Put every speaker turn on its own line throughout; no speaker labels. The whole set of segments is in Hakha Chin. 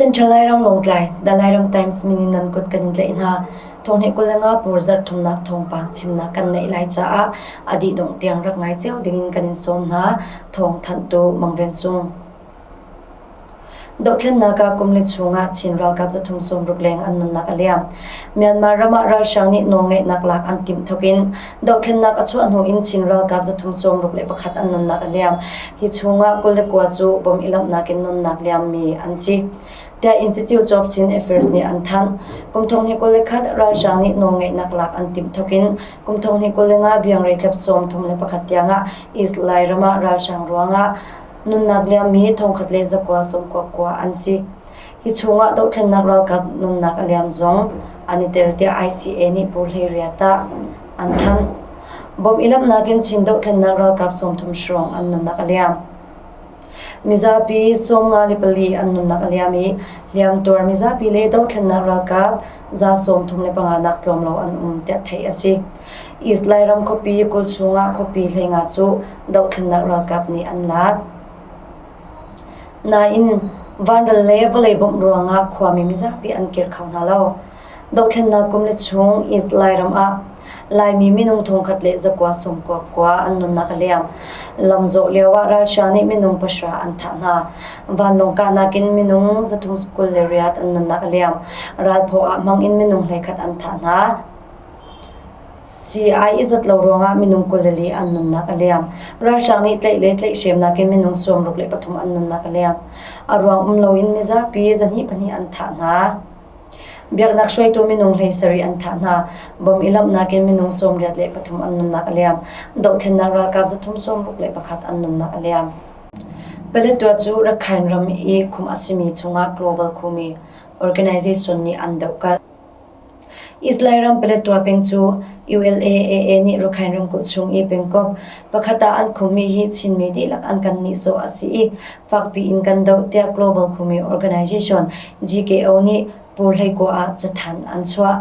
Central Lairang Lawngtlai, The Lairam Times minin nan kut kan tlaih hna. Thong he kulanga pur zarh thumnak thongpang chimnak kan neih lai caah adi dongh tiang rak ngai cio dingin kan in sawm hna. Thong thantu Mangven Sung. Dohthlennak ah kum li chung ah Chin ralkap zathum sawmruk leng an nunnak a liam. Myanmar ram ah ralhrang nih nawlngeihnak lak an timh thok in dohthlennak a chuah hnu in Chin ralkap zathum sawmruk le pakhat an nunnak a liam. Hi chung ah kul le kua cu bom ilamhnak in nunnak liam mi an si. Tiah Institute of Chin Affairs nih an thanh. Kum thong hi kul le khat ralhrang nih nawlngeihnak lak an timh thok in kum thong hi kul le nga biang rei tlep sawm thum le pakhat tiang ah East Lai ram ah ralhrang ruang ah nunnak liammi thongkhat le zakua sawmkuakua an si. Hi chungah dohthlennak ralkap nunnak a liam zong an i tel tiah ICA nih Pu Hlei Ria tah an thanh. Bom i lamhnak in Chin dohthlennak ralkap sawmthum hrawng an nunnak a liam. Mizapi sawm nga le pali an nunnak a liam i hliamtuar mizapi le dohthlennak ralkap za sawmthum le panga nak tlawm lo an um tiah theih a si. East Lairam khuapi kul chungah khuapi hleinga cu dohthlennak ralkap nih an lak. Nain, vanral le vawlei bawmh ruangah khuami mizapi an kir kho hna lo. Dohthlennak kum le chung East Lairam ah Laimi minung thongkhat le zakua sawm kuapkua an nunnak a liam. Lamzawh lioah ralhrang nih minung pahra an thah hna. Vanlawng kahnak in minung zathum kul le riat an nunnak a liam. Ralphaw ah hmang in minung hleikhat an thah hna. Sii-ai i zat lo ruangah minung kul le li an nunnak a liam. Ralhrang nih tlaih le tlaihhremnak in minung sawmruk le pathum an nunnak a liam. A ruang um loin mizapi zahnih pahnih an thah hna. Biaknak hruaitu minung hlei sarih an thah hna. Bom i lamhnak in minung sawmriat le pathum an nunnak a liam. Dohthlennak ralkap zathum sawmruk le pakhat an nunnak a liam. Paletwa cu Rakhine ram i khum a simi chungah global khumi organization nih an dohkalh. Israel ram Paletwa peng cu ULAAA nih Rakhine ramkulh chung i pengkomh pakhat ah an khummi hi Chinmi dihlak an kan nihsawh a si i fakpi in kan doh tiah Global Khumi Organization GKO nih Pur hleikua ah cathanh an chuah.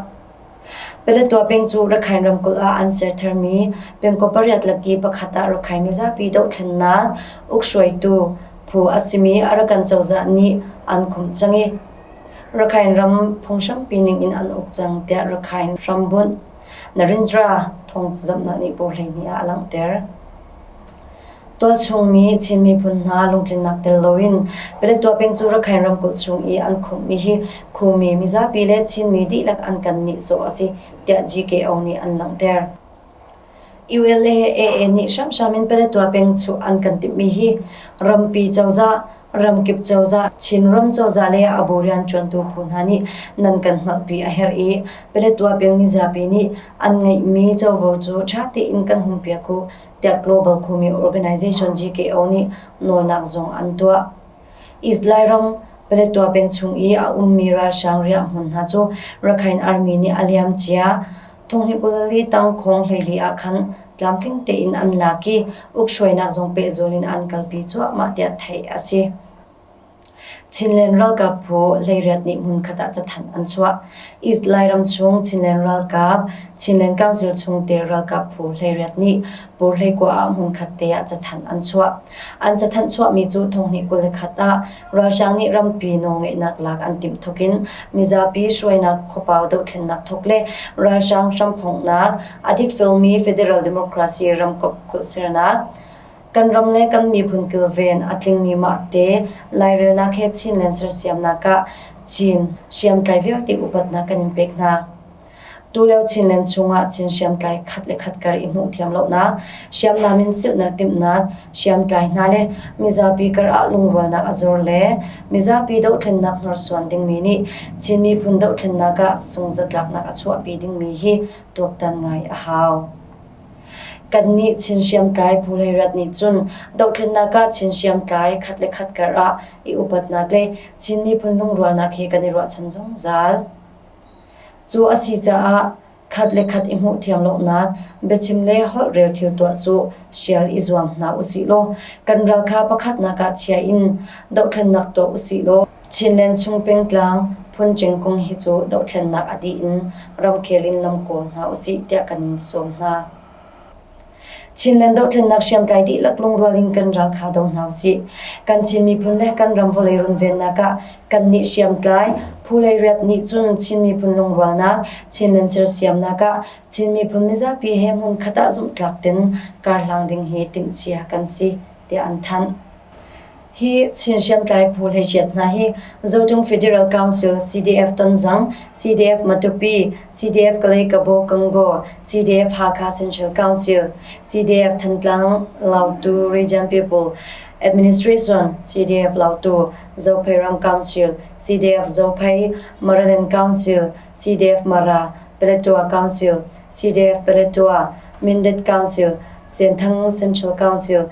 Paletwa peng cu Rakhine ramkulh ah an ser tharmi pengkaw pariat laki pakhat ah Rakhine mizapi dohthlennak uk hruaitu phu a simi Arakan cozah nih an khumh cang i Rakhine ram phunghrangpi ningin an uk cang tiah Rakhine hrambunh Narendra thawngzamhnak nih por hleihnih ah a langhter. Tualchungmi Chin miphun hna lungtlinnak tel loin Paletwa peng cu Rakhine ramkulh chung i an khumhmi hi Khumi mizapi le Chinmi dihlak an kan nihsawh a si tiah GKO nih an langhter. ULA-AA nih hramhram in Paletwa peng chuh an kan timhmi hi rampi cozah, ramkip cozah, Chinram cozah le a bu rianṭuantu phu hna nih nan kan hngalhpi a herh i Paletwa peng mizapi nih an ngeihmi covo cu ṭha tein kan hunpiak u tiah Global Kumi Organization GKO nih nawlnak zong an tuah. Izlai ram Paletwa peng chung i a ummi ralhrang riah hmun hna cu Rakhine Army nih a liam cia. Thonghnikulli tangkhawng hleili ah khan tlamtling tein an lak i ukhruainak zong pehzul in an kalpi cuahmah tiah theih a si. Chinland ralkap phu hleiriat nih hmunkhat ah cathanh an chuah. Izlai ram chung Chinland ralkap Chinland Council chung te ralkap phu hleiriat nih Purhlei kua ah hmunkhat te ah cathanh an chuah. An cathanh chuahmi cu thonghnih kul le khat ah ralhrang nih rampi nawlngeihnak lak an timh thawk in mizapi hruainak khuapau dohthlennak thawk le ralhrang hramphongnak a dikfelmi Federal Democracy ramkomh kulhsernak kan ram le kan miphun kilven a tlingmi mah te lairelnak he Chinland sersiamnak ah Chin hriamtlai vialte upatnak kan in pek hna. Tulio Chinland chungah Chin hriamtlai khat le khat kar i hmuh thiam lonak, hriamnam in silhnak timhnak, hriamtlai hna le mizapi kar ah lungrualnak a zor le mizapi dohthlennak hnorsuan dingmi nih Chin miphun dohthlennak ah sunghzatlaknak a chuahpi dingmi hi tuaktan ngai a hau. Kannih Chin hriamtlai Pu Hlei Rat nih cun dohthlennak ah Chin hriamtlai khat le khat kar ah i upatnak le Chin miphun lungrualnak he kan i ruahchan zungzal. Cu a si caah khat le khat i hmuh thiam lonak biachim le holhrel thil tuah cu hrial i zuam hna usih law kan ral kha pakhatnak ah chia in dohthlennak tuah usih law Chinland chung pengtlang phun kung hi cu dohthlennak a dih in ramkhel in lam kawl hna usih tiah kan in sawm hna. Chinland dohthlennak hriamtlai dihlak lungrual in kan ralkha do hna usih. Kan Chin miphun le kan ram vawlei runvennak ah kan nih hriamtlai phu lei riat nih cun Chin miphun lungrualnak, Chinland sersiamnak ah Chin miphun mizapi he hmun khat ah zumhtlak tin karhlang ding hi timhcia kan si tiah an thanh. Hi Chin hriamtlai phu hleichiat hna hi Zotung Federal Council, CDF Tonzang, CDF-Matupi, CDF-Kalay-Kabo-Kangaw, CDF-Hakha Central Council, CDF-Thantlang, Lautu Region People Administration, CDF-Lautu, Zophei Ram Council, CDF-Zophei, Maraland Council, CDF-Mara, Paletwa Council, CDF-Paletwa, Mindat Council, Senthang Central Council,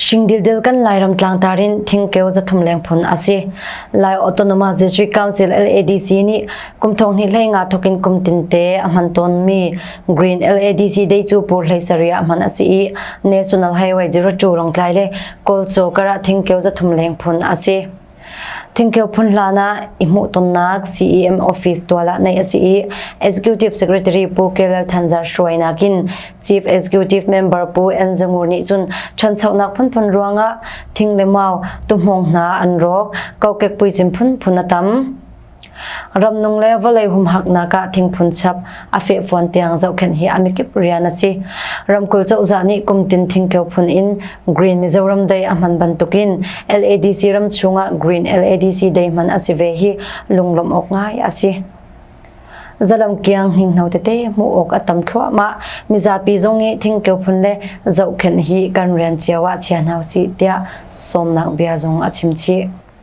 Shingdildil kan Lairam tlangtar in thingkeu zathum leng phun a si. Lai Autonomous District Council LADC nih kum thong hnih hlei nga thokin kum tinte a hman tawnmi Green LADC Day cu pur hlei sarih ah hman a si i National Highway 02 Longtlai le Kawlcaw karah thingkeu zathum leng phun a si. Thingkeu phun hlan ah i hmuhtonnak CEM office tual ah neih a si i Executive Secretary Pu Kelal Thanzar Hruai nakin Chief Executive Member Pu Enza Ngur nih cun ṭhanchonak phunphun ruangah thing le mau tuhmawng hna an rawk kokek puicim phunphun a tam Ramnung le vawlei humhaknak ah thingphun chap a fehfuan tiang zohkhenh hi a mikip rian a si. Ramkulh cozah nih kumtin thingkeu phun in Green Mizoram Day a hman bantukin LADC ram chungah Green LADC Day hman a si ve hi lunglawmh awk ngai a si. Zalam kiang hinghno tete mu ok a tam thluahmah mizapi zong i thingkeu phun le zohkhenh hi kan rian cio ah chian hau si tiah somnak bia zong a chimchi.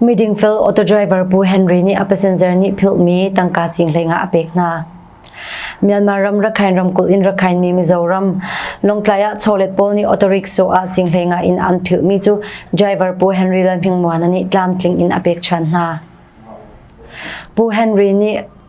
Midingfel auto driver Pu Henry nih a passenger nih philhmi tangka singhleng ah a pek hna. Myanmar ram Rakhain ramkulh in Rakhain mi Mizoram Longtlai ah cholet pawl nih auto rickshaw ah singhleng ah in an philhmi cu driver Pu Henry Lalhmingmuana nih tlamtling in a pek ṭhan hna. Pu Henry nih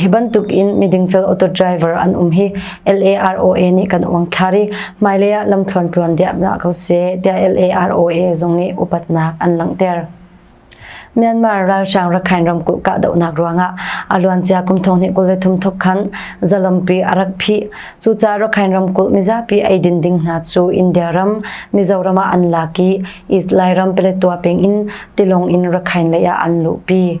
Hi bantuk in midingfel auto driver an um hi LAROA nih kan uang thlar i hmailei ah lamthluan tluan diamnak ko se tiah LAROA zung nih upatnak an langhter. Myanmar ralhrang rakhain ramkulh kahdohnak ruangah a luancia kum thong hnih kul le thum thok khan zalampi a rak phi cuca rakhain ramkulh mizapi eidin ding hna cu India ram Mizoram ah an lak i East Lairam Paletwa peng in tilong in rakhain lei ah an luhpi.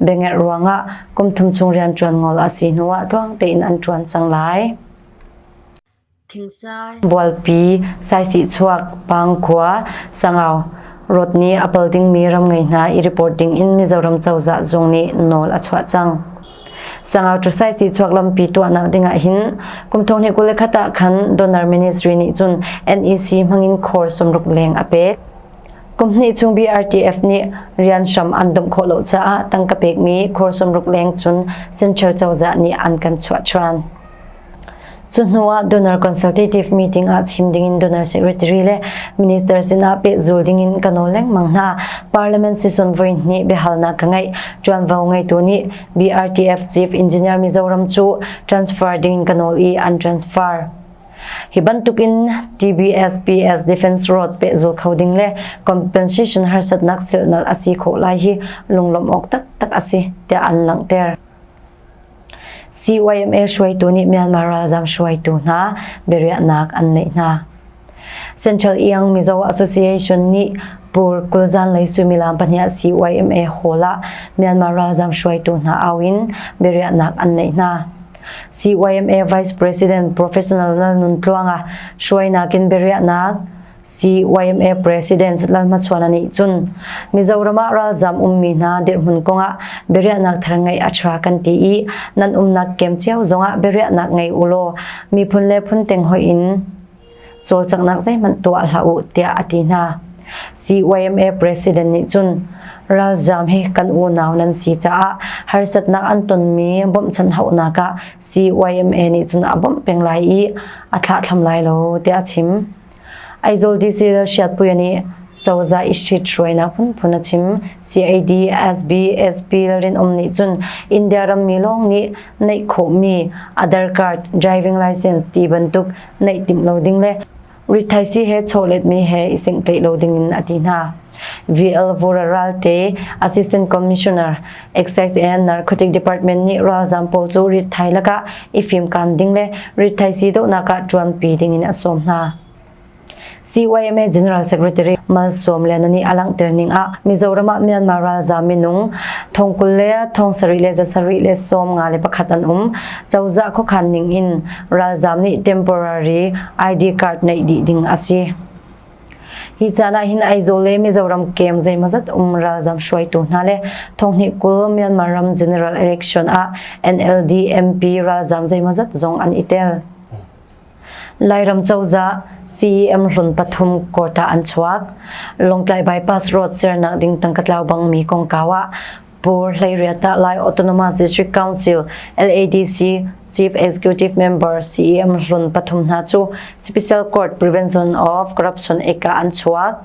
Biangeh ruangah kumthum chung rian ṭuan ngol a si hnuah tluang tein an ṭuan cang lai. Bualpi, Saisihchuak, Pangkhua, Sangau, Rot nih a pal dingmi ram ngei hna i report ding in Mizoram cozah zung nih nawl a chuah cang. Sangau cu Saisihchuak lampi tuahnak dingah hin kumthong hnih kul le khat ah khan Donor Ministry nih cun NEC hmangin khor sumruk leng a pek. Kum hnih chung BRTF nih rian hram an domh khawh lo caah tangka pekmi khur sawmruk leng cun Central cozah nih an kan chuah ṭhan. Cu hnu ah donor consultative meeting ah chim dingin donor secretary le minister sinah pehzul dingin ka nawl lengmang hna. Parliament sison voi hnih biahalnak ka ngeih. Ṭuanvo ngeitu nih BRTF Chief Engineer Mizoram cu transfer dingin ka nawl i an transfer. Hi bantukin TBSPS Defense Road pehzul kho ding le compensation harsatnak silnal a si khawh lai hi lunglawmh awk taktak a si tiah an langhter. CYMA hruaitu nih Myanmar ralzam hruaitu hna biariahnak an neih hna. Central Iang Mizo Association nih Pur Kulzan lei suimilam pahnih CYMA hall ah Myanmar ralzam hruaitu hna auin biariahnak an neih hna. CYMA Vice President Professional Lalnuntluanga hruainak in biariahnak CYMA President Lalhmachhuana nih cun Mizoram ah ralzam ummi hna dirhmun kongah biariahnak thar ngeih a tha kan ti i nan umnak kem cio zongah biariahnak ngei ulaw miphun le phun teng hoih in cawlcanghnak zeihmanh tuah hlah u tiah a ti hna. CYMA president nih cun ralzam hi kan unau nan si caah harsatnak an tonmi bawmhchanh hauhnak ah CYMA nih cun a bawmh peng lai i a thlahthlam lai lo tiah a chim. Aizawl DC Siatpuia nih cozah i shit hruainak phunphun a chim CAD SB SP Lalrinawm nih cun India rammi lawng nih neih khawhmi a darkar driving license ti bantuk neih timh lo ding le rithaisi he chawletmi he i sengtleih lo ding in a ti hna. VL Vora Ralte Assistant Commissioner Excise and Narcotic Department nih ralzam pawl cu rithai laka i fim kan ding le rithaisi dohnak ah ṭuanpi ding in a sawm hna. CYMA General Secretary Malsawm Lenan nih a langhter ning ah Mizoram ah Myanmar ralzam minung thongkul le thong sarih le zasarih le sawm nga le pakhat an um cozah khokhan ning in ralzam nih temporary ID card nei dih ding asi hi cana hin Aizawl le Mizoram kem zeimazat um ralzam hruaitu hna le thonghni kul Myanmar ram General Election ah NLD MP ralzam zeimazat zong an itel Lairam cozah CEM hlun pathum quota an chuak. Lawngtlai bypass road sernak ding tangka tlau bangmi kongkau ah Pur Hleiriata Lai Autonomous District Council LADC Chief Executive Member CEM hlun pathum hna cu Special Court Prevention of Corruption eka an chuak.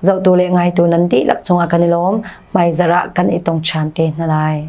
zohtu le ngaitu nan dihlak cungah kan i lawm. Hmaizarh ah kan i tong ṭhan te hna lai.